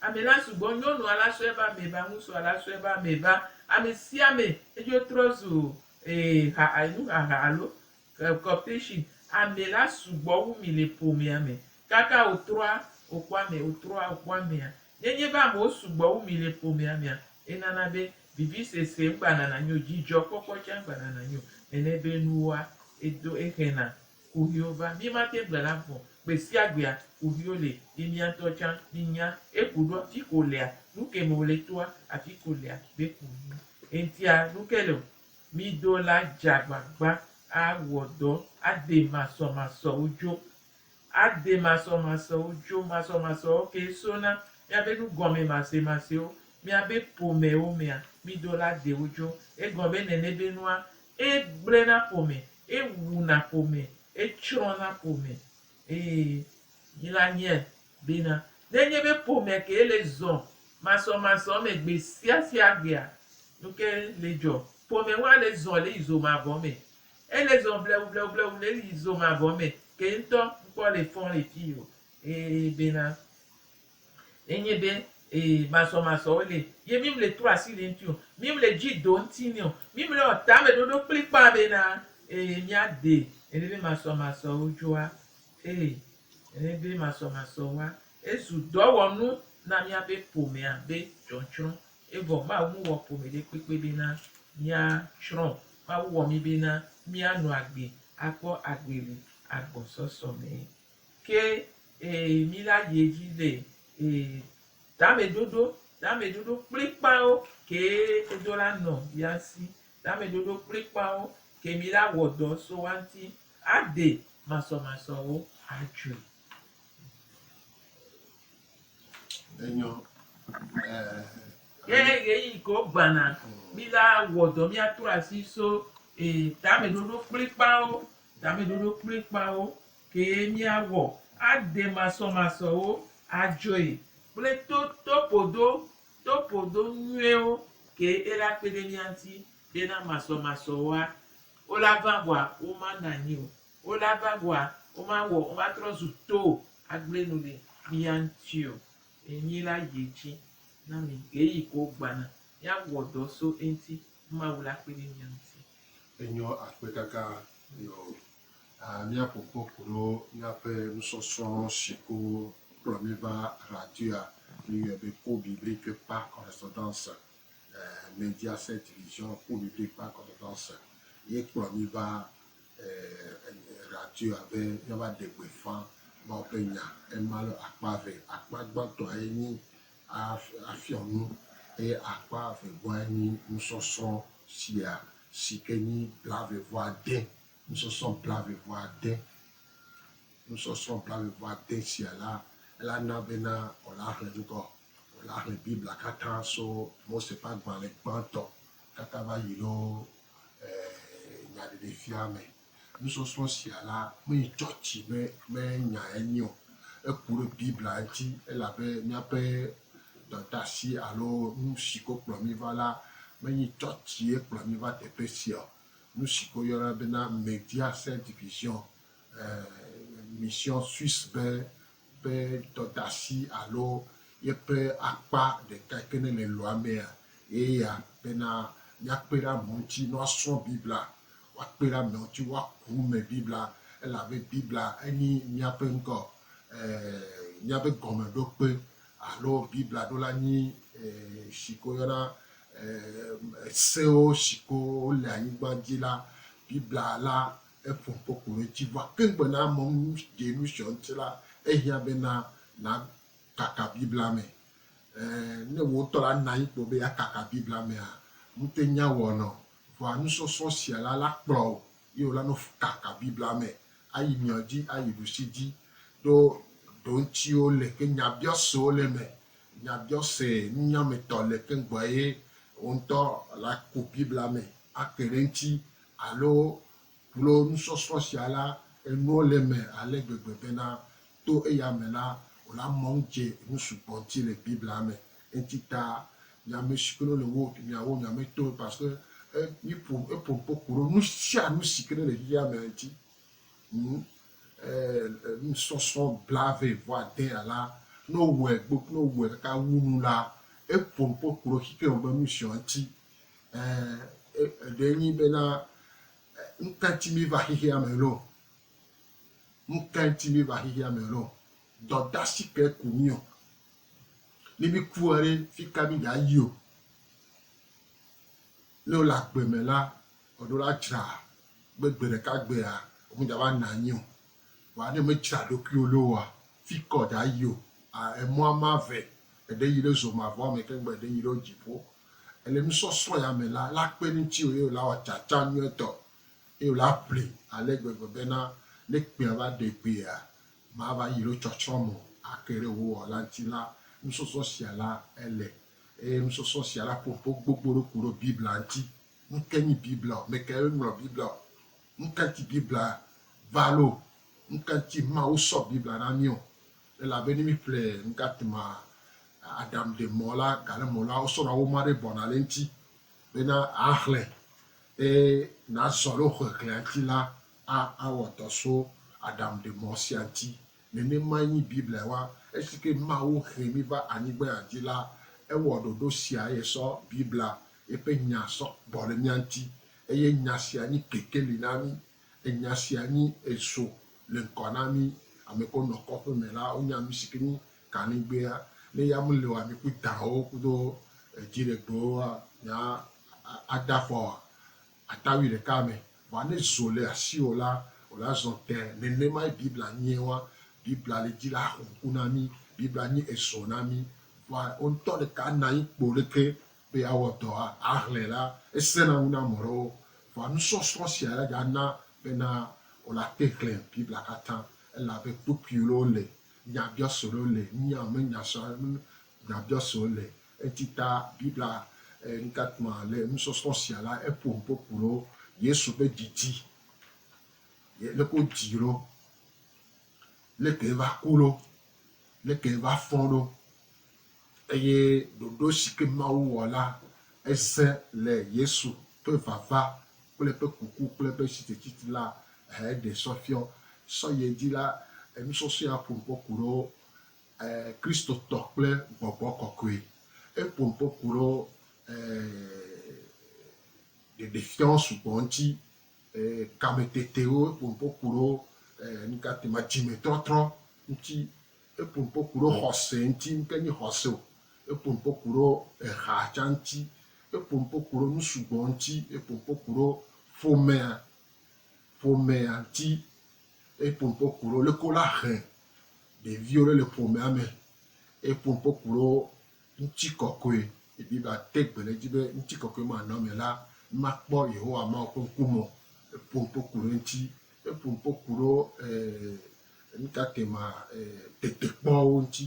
Ame la sugbɔ. Nyɔnua la sɔe va ame va, ŋusua la sɔe va ame va. Ame sia ame edzo trɔ zu, ee, ha, nuhaha alo Corporation, ame la sugbɔ wu mi le ƒomea me. Kaka wòtrɔa wòkpɔ ame wòtrɔa wòkpɔ amea. Nenye be amewo sugbɔ wu mi le ƒomea mea, enana be vivisese megbanana nyi o, dzidzɔkpɔkpɔ tsɛ megbanana nyi o. Nene be nuwoa, edo exena kuxiwo va. Mí mate ŋu gblena vɔ o. Gbe sia gbea, kuxiwo li, ye mía ŋutɔ tsã míenya eku ɖo afi ka wòlea, nu ke me wòle toa, afi ka wòlea be kuxi. Eŋutia, nu ke le o, Mi do la dze agbagba awɔ dɔ ade masɔmasɔwo dzo. Ade masɔmasɔwo dzo. Masɔmasɔwo kee so na míabe nugɔmemasemasiwo, míabe ƒomewo mea, mi do la de wo dzo. Egɔme nene be nua, egblẽna ƒome, ewuna ƒome, etsrɔ̃na ƒome. Eye mi la nye Bena, ne enye be ƒomea kee le zɔ masɔmasɔ me gbe sia sia gbea, nu ke le dzɔ? Ƒome hã le zɔ le yi zo mavɔ me. Ele zɔ blewublewublewu le yi zo mavɔ me ke ŋutɔ. Ŋkpɔ le fɔm le fii o. Ee, bena, enye be, ee, masɔmasɔwo le ye mi mle tro asi le eŋuti o. Mi mle dzi do ŋuti nɛ o. Mi mle wɔ tameɖoɖo kplikpaa bena, ee, mia de ele be masɔmasɔwo dzoa Ee, ele be masɔmasɔ wa. Ezu dɔwɔnu na míaƒe ƒomea be tsɔtsrɔ̃. Evɔ Mawu mewɔ ƒome ɖekpekpe bena míatsrɔ̃ o. Mawu wɔ mí bena míanɔ agbe akpɔ agbe le agbɔsɔsɔ me. Ke ee, mí la yi edzi le ee tameɖoɖo, tameɖoɖo kplikpaawo kee edo la nɔ ya si. Tameɖoɖo kplikpaawo ke mí la wɔ dɔ so wa ŋuti Aɖe masɔmasɔwo atsoe. Enyɔ. Ke ɣeyiɣi ke wogbãna mí la wɔ dɔ míatrɔ asi so tameɖoɖo kplikpaawo. Tameɖoɖo kplikpaawo kee míawɔ aɖe masɔmasɔwo atsoe kple to toƒoɖo toƒoɖo nyuiwo kee ela kpe ɖe mía ŋuti Be na masɔmasɔ woa, wolava ʋɔa, womanɔ anyi o, wolava ʋɔa, womawɔ, womatrɔ zu to agble nu le mía ŋuti o. Enyi la yi edzi na mi ɣeyiɣi ko wogbana. Míawɔ dɔ so eŋuti ne Mawu la kpe ɖe mía ŋuti. Enyɔ akpe gãgã nɔ míaƒo kpɔ koɖo míaƒe nusɔsrɔ̃ si ko kplɔ mí va radio-a. Míyɔe be Cours biblique par correspondance. eh, Media Set Division Kpɔɖuɖu ƒe akɔdada se ye kplɔ mi va eh, eh, radio abe míava ɖe gbeƒã Mawu ƒe nya. Ema le akpa ve. Akpa gbãtɔa ye nyi af- afiɔ nu eye akpa vegoa ye nyi nusɔsrɔ̃ sia si ke nyi blavevuade. Nusɔsrɔ̃ blavevuade nusɔsrɔ̃ blavevuade sia la, elana bena wòlaxlẽ ŋgɔ Wole axlẽ Biblia katã so Mose ƒe agbalẽ gbãtɔ katã va yi ɖo Nyaɖeɖefia me. Nusɔsrɔ̃ sia la meyi tsɔtsi me me nya enye o. Eku ɖe Biblia ŋuti elabe míaƒe dɔdeasi alo nusi ko kplɔ mí va la menye tsɔtsie kplɔ mí va teƒe sia o. Nusi ko yɔna bena Media Saint Division, eh, Mission Suisse be ƒe dɔdasi alo yeƒe akpa ɖeka ke ne le lɔa mea, eye ya bena míakpe ɖe amewo ŋuti ne woasrɔ̃ Biblia, woakpe ɖe amewo ŋuti woaku eme Biblia, elabe Biblia enye míaƒe ŋkɔ e míaƒe gɔmeɖokpe alo Biblia ɖo la nyi e si ke woyɔna e sewo si ke wole anyigba dzi la, Biblia la Eƒo kpɔ ko ɖe edzi va keŋ bena ame nu ɖe nu srɔ̃ ŋuti la, ehiã bena nàkaka Biblia me. Ẽ, ne wò ŋutɔ la nɔ anyi kpɔ be yeakaka Biblia mea, ŋute nya wɔnɔ o. Vɔa nusɔsrɔ̃ sia la la kplɔ wò ye wòla nɔ kaka Biblia me ayi miɔ dzi, ayi ɖusi dzi. Ɖo ɖoŋtsiwo le ke nyabiɔsewo le eme Nyagbiɔse nunyametɔ le keŋ gbɔ eye wò ŋutɔ la ku Biblia me ake ɖe eŋuti alo kplo nusɔsrɔ̃ sia la, enuwo le eme ale gbegbe bena to eya me la, wò la mɔ ŋudze nu sugbɔ ŋuti le Biblia me. Eŋuti ta nya ame si ke ne le wò domea, wò nya me toe parce que e mi ƒo eƒo ŋkpo ku ɖo nu sia nu si ke ne le xexea mea ŋuti. Ŋ. nusɔsrɔ̃ blaeve vɔ adea la, ne wowɔe gbo ne wowɔe kaka wu nu la, eƒo nu ƒe kplɔ xixeɛ me be nu siɔ ŋuti e e eɖe nyi bena nuka ŋuti míeva xexea me lɔ? Nuka ŋuti míeva xexea me lɔ? Dɔdasi kae ku mí ɔ? Ne míkua ɖe, fika míga yio? Ne wole agbe me la, Eɖo la tsra be gbe ɖeka gbea wo meda va na anyi o. Vɔa ne me tsra ɖokuiwo loo a, fikɔ da yi o a emɔa ma ve eɖe yi ɖe zo ma vɔa me keŋ gbe eɖe yi ɖe wo dziƒo. Ele nusɔsrɔ̃ ya me la, la kpe ŋuti o eye wo la wɔ tsatsa nyuietɔ eye wo la ƒli ale gbegbe be na ne kpea va ɖe gbe a, ma va yi ɖe tsɔtsrɔ̃ me o a ke ɖe wo wɔ la ŋuti la, nusɔsrɔ̃ sia la ele eye nusɔsrɔ̃ sia la ƒoƒo gbogbo ɖo ku ɖo Biblia ŋuti. Nukae nye Biblia o? Mekae woŋlɔ Biblia o? Nuka ŋuti Biblia va alo nuka ŋuti Mawu sɔ Biblia na mí o? Elabe ne míeƒle nuka tema Adam ɖe mɔ la, gale mɔ la, wosɔna woma aɖe bɔna ɖe eŋuti bena àxlẽ eye nàzɔ ɖe wò xexlẽa ŋuti la, awɔ dɔ so Adam ɖe mɔ sia ŋuti. Nenemae nyi Biblia wa. Esike Mawu he mí va anyigbea dzi la, ewɔ ɖoɖo sia eye sɔ Biblia, eƒe Nya, sɔ gbɔ ɖe mía ŋuti. Eye Nya sia nyi kekeli na mí. Enya sia nyi ezo le ŋkɔ na mí. Ameko nɔ kɔƒe me la, wonya nusike nyi kaligbea. Ne ya mele o ami ku dãwo kudo dziɖegbewo nya ada fɔ Atawui ɖeka me, vɔa ne zo le asiwò la, wò la zɔ tẽ. Nenemae Biblia nyie wa. Biblia le dzi la xɔ ŋku na mí. Biblia nye ezɔ na mí. Vɔa wò ŋutɔ ɖeka na anyi kpo leke be yeawɔ dɔa. Ahlẽ la, esẽna ŋu na ame ɖewo. Vɔa nusɔsrɔ̃ sia la dza na bena wò la te xlẽ Biblia katã. Elabe kpukpuiwo le, nyabiɔsewo le, nya me nya sɔa, nyabiɔsewo le. Eti ta Biblia ŋutatɔa le nusɔsrɔ̃ sia la eƒo nu kpokpo ɖo Yesu ƒe didi, leke wodii ɖo, leke va ku ɖo, leke va fɔ ɖo, eye ɖoɖo si ke Mawu wɔ la eze le Yesu ƒe vava kple eƒe kuku kple eƒe tsitsetsitsi la eɖe sɔfiɔ. Sɔyedzi la enusɔsrɔ̃ ya ƒo nu kpokpo ɖo E Kristotɔ kple gbɔgbɔ kɔkɔe. E ƒo ŋkɔ ku ɖo e ɖeɖefiawo sugbɔ ŋuti, e kametetewo, e ƒo ŋkɔ ku ɖo e nukate ma dzimetrɔtrɔ ŋuti, e ƒo ŋkɔ ku ɖo xɔse ŋuti, nuke nyi xɔse o, e ƒo ŋkɔ ku ɖo eha tsã ŋuti, e ƒo ŋkɔ ku ɖo nu sugbɔ ŋuti, e ƒo ŋkɔ ku ɖo ƒomea, ƒomea ŋuti. Eye popo ku ɖo leke wola he ɖeviwo ɖe le ƒomea me. Eye popo ku ɖo ŋuti kɔkɔe. Ebi va te gbe ɖe edzi be ŋuti kɔkɔe ma nɔ ame la makpɔ Yehowa Mawu ƒe ŋkume o. Popo ku ɖe eŋuti. Eye popo ku ɖo nuka te ma tetekpɔwo ŋuti.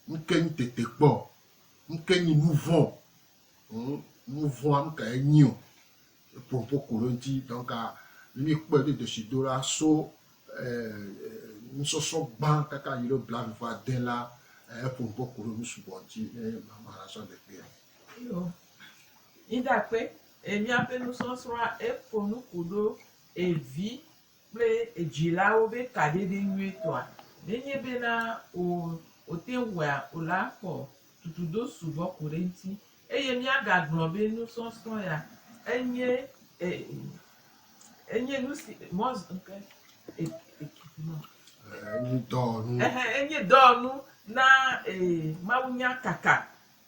Nuke nyi tetekpɔ? Nuke nyi nuvɔ̃? ŋu nu vɔ̃a nu kae nyi o. Eƒo nuƒo ku ɖe eŋuti. Donc ne míekpɔe ɖo deshi do la so nusɔsrɔ̃ gbã kaka yi ɖe blaeve va ade la, eƒo nuƒo ku ɖe nu sugbɔ ŋuti ne mama la sɔ de kpuia. Yo. Yi ɖe akpe, e míaƒe nusɔsrɔ̃a eƒo nu ku ɖo evi kple edzilawo be kaɖiɖi nyuitɔa nenye bena o wote ŋu wɔa o la xɔ tutudo sugbɔ ko ɖe eŋuti, eye míagagblɔ be nusɔsrɔ̃ ya enye e enye nusi mɔ eke eke Enye dɔwɔnu. ehe enye dɔwɔnu na e mawunya kaka.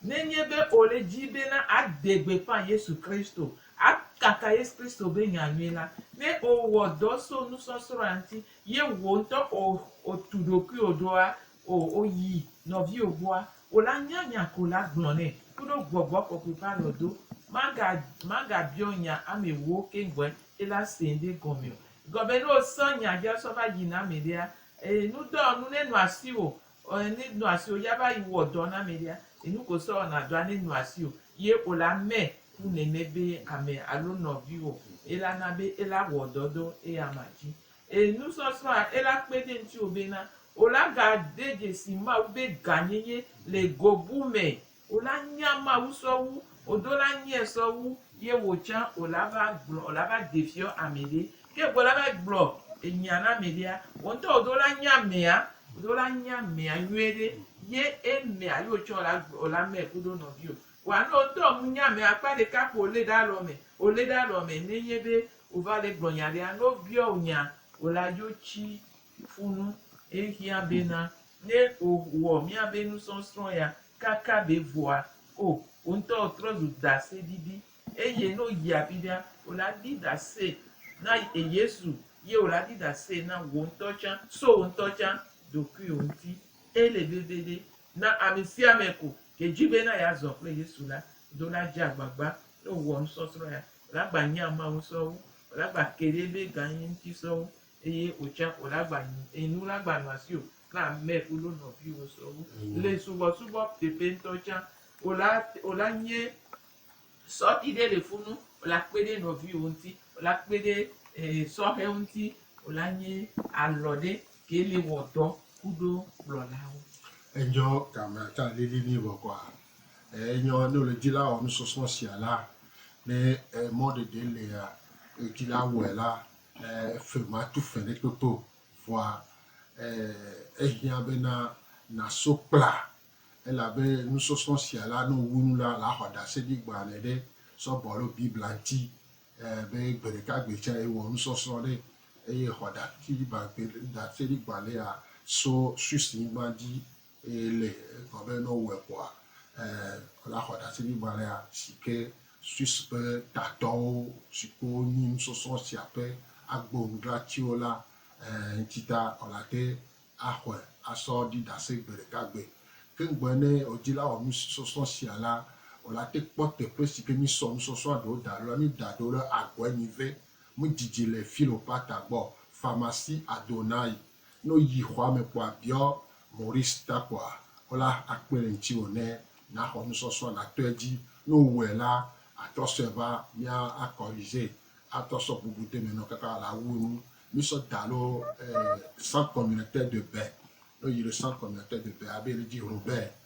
Nenye be ole dzi bena ade gbeƒã Yesu Kristo, akaka Yesu Kristo be nya nyui la, ne owɔ dɔ so nusɔsrɔ̃a ŋti, ye wò ŋtɔ o otu ɖokuiwò ɖoa o oyi nɔviwò gbɔa, wò la nya nya ko la gblɔ nɛ kuɖo Gbɔgbɔ Kɔkɔe ƒe alɔdo. Maga maga biɔ nya amɛwo keŋgbɔɛ ye la sɛɛ ŋɖe gɔmɛ o. Egɔmɛ ne osɔ nya via sɔ va yi na amɛɖea, e nudɔ nu ne nɔ asiwò Ɔe ne nɔ asi o ya va yi wɔ dɔ na mɛ ɖea, enu ko sɔ wɔna dɔa ne nɔ asi o ye o la mɛ ku nɛ mɛ be amɛ alo nɔviwɔ e la na be e la wɔ dɔ dɔ eya ma dji. E nu sɔsɔ a e la kpe ɖe ŋtiwo be na o la ga de djesi Mawu be ga nyenye le go bu mɛ O la nya Mawu sɔwu, o do la nyɛ sɔwu, ye wo tsã o la va gblɔ, o la va de fiɔ amɛɖe. Ke go la va gblɔ enya na amɛɖea, wo ŋtɔ o do la nya amɛa, o do la nya amɛa nyuie ɖe, ye e mɛa ye o tsã o la gblɔ o la mɛ kudo nɔvio. Wa ne o ŋtɔ mu nya amɛa akpa ɖeka kpo o le ɖe alɔ mɛ, o le ɖe alɔ mɛ ne nye be o va le gblɔ nya ɖea, ne o biɔ o nya, o la dzo tsi funu, e hiã be na Ne o wɔ miabe nusɔsrɔ̃ ya kaka ɖe vɔa, o o ŋutɔ o trɔ zu dase ɖiɖi. Eye ne o yi afiɖea, o la ɖi dase na e Yesu ye o la ɖi dase na wò ŋutɔ tsã so wò ŋutɔ tsã ɖokuiwò ŋuti. Ele veviɖe na amesiame ko ke dzi be na ya zɔ kple Yesu la do la dze agbagba ne o wɔ nusɔsrɔ̃ ya. O la gba nya Mawu sɔwu, o la gba ke ɖe ebe gã ye ŋuti sɔwu. eye wòtsã wòle agba nu eye nu la agba nu asiwò kple ame kuɖo nɔviwò sɔwu. Le subɔsubɔ teƒe ŋutɔ tsã, wòle ate, wòle anye sɔti ɖe le funu, wòle akpe ɖe nɔviwò ŋuti, wòle akpe ɖe e, sɔhɛwo ŋuti, wòle anye alɔ ɖe ke le wɔ dɔ kuɖo kplɔlawo. Enyɔ ka me ate ŋu alili nɛ bɔkɔa? E, enyɔ ne wòle dzi la wɔ nusɔsrɔ̃ sia la, ne e, mɔɖeɖe lea, edzi la wɔe la, Fe matu fe ɖe kpekpe o, vɔa ehiã bena nàso kpla, elabe nusɔsrɔ̃ sia la, ne wòwu nu la, làxɔ ɖaseɖi gbãne ɖe Sɔgbe alo Biblia ŋuti, be gbeɖekagbe tsã ewɔ nusɔsrɔ̃ ɖe, eye xɔ ɖaseɖi gbãnea tso Swissnyigba dzi Eye le egblɔ be ne wowɔe kpɔa, wola xɔ ɖaseɖigbalẽa si ke Swiss ƒe tatɔwo si ke wonyi nusɔsrɔ̃ sia ƒe agbonudzratiwo la ŋuti ta wolate axɔe asɔ ɖi ɖase gbe ɖeka gbe. Ke ŋgbɔe ne wodila wɔ nusɔsrɔ̃ sia la, wolate kpɔ teƒe si ke mísɔ nusɔsrɔ̃a ɖewo da ɖo la. Mída ɖewo ɖe Agɔɛnive, Mudidi le Philopata gbɔ, Pharmacie Adonai, Ne woyi xɔa me kpɔa, biɔ Maurice ta kpɔa, wo la akpe ɖe ŋutiwò ne nàxɔ nusɔsrɔ̃ nàto edzi. Ne wowɔe la, àtrɔ sɔe va, mía a corriger, atrɔ sɔ bubu de eme nɔ kaka la wu enu. Mísɔ da alo eh, centre communautaire de bain. Ne woyi ɖe centre communautaire de bain, abe yele dzi Robert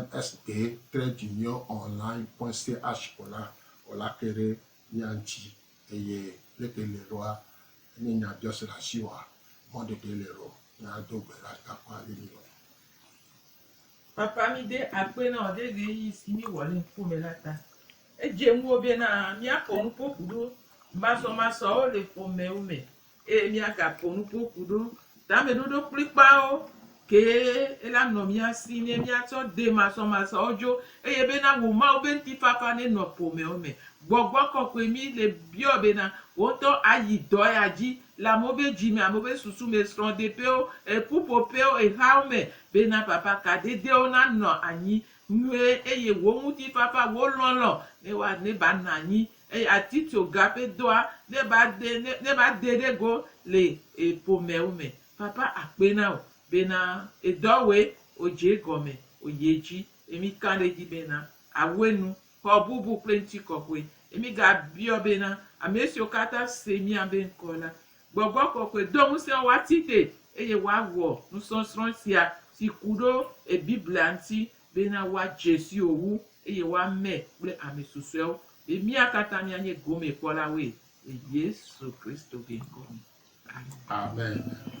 MSA tre dzi nye online pointsy ash ko la, o la ke ɖe mía ŋuti. Eye leke le ɖoa? Enye nya biɔ se le asi wa mɔ ɖeɖe le ɖo nya do gbe la ta kpa le mi lɔn. Papa mi de akpe na wo ɖe ɣeyiɣi si mi wɔ le ŋkuo me la ta. Edze ŋuo be na mía kɔ nuƒo ku ɖo masɔmasɔawo le xɔmewo me Eye míagaƒo nuƒo ku ɖo tameɖoɖo kplikpaawo kee la nɔ mía si ne míatsɔ de masɔmasɔwo dzo eye bena wò Mawu be ŋutifafa nenɔ ƒomewo me. Gbɔgbɔ kɔkɔe mi le biɔ bena wò ŋutɔ ayi dɔ ya dzi le amewo be dzi me, amewo be susu me, srɔ̃deƒewo, ƒuƒoƒewo, hawo me bena fafa ka dedewo nanɔ anyi nyuie eye wò ŋutifafa, wò lɔlɔ̃ ne woa ne banɔ anyi Eye ati tso ga pe doa ne ba de ne ne ba de ɖe go le e ƒomɛwo me. Papa akpe na wò bena edɔ wɔe odze egɔme oyi edzi. Ye mi ka ɖe edzi bena awɔe nu xɔ bubu kple ŋtikɔkɔe. Ye mi ga biɔ bena amesiwo katã se mía be ŋkɔ la, gbɔgbɔ kɔkɔe do ŋusẽ wo woati te eye woawɔ nusɔsrɔ̃ sia si ku ɖo e Biblia ŋuti bena woadze si wò wu, eye woame kple ame susɔeawo, be mía katã míanye gomekpɔlawoe le Yesu Kristo ƒe ŋkɔ me. Amen. Amen.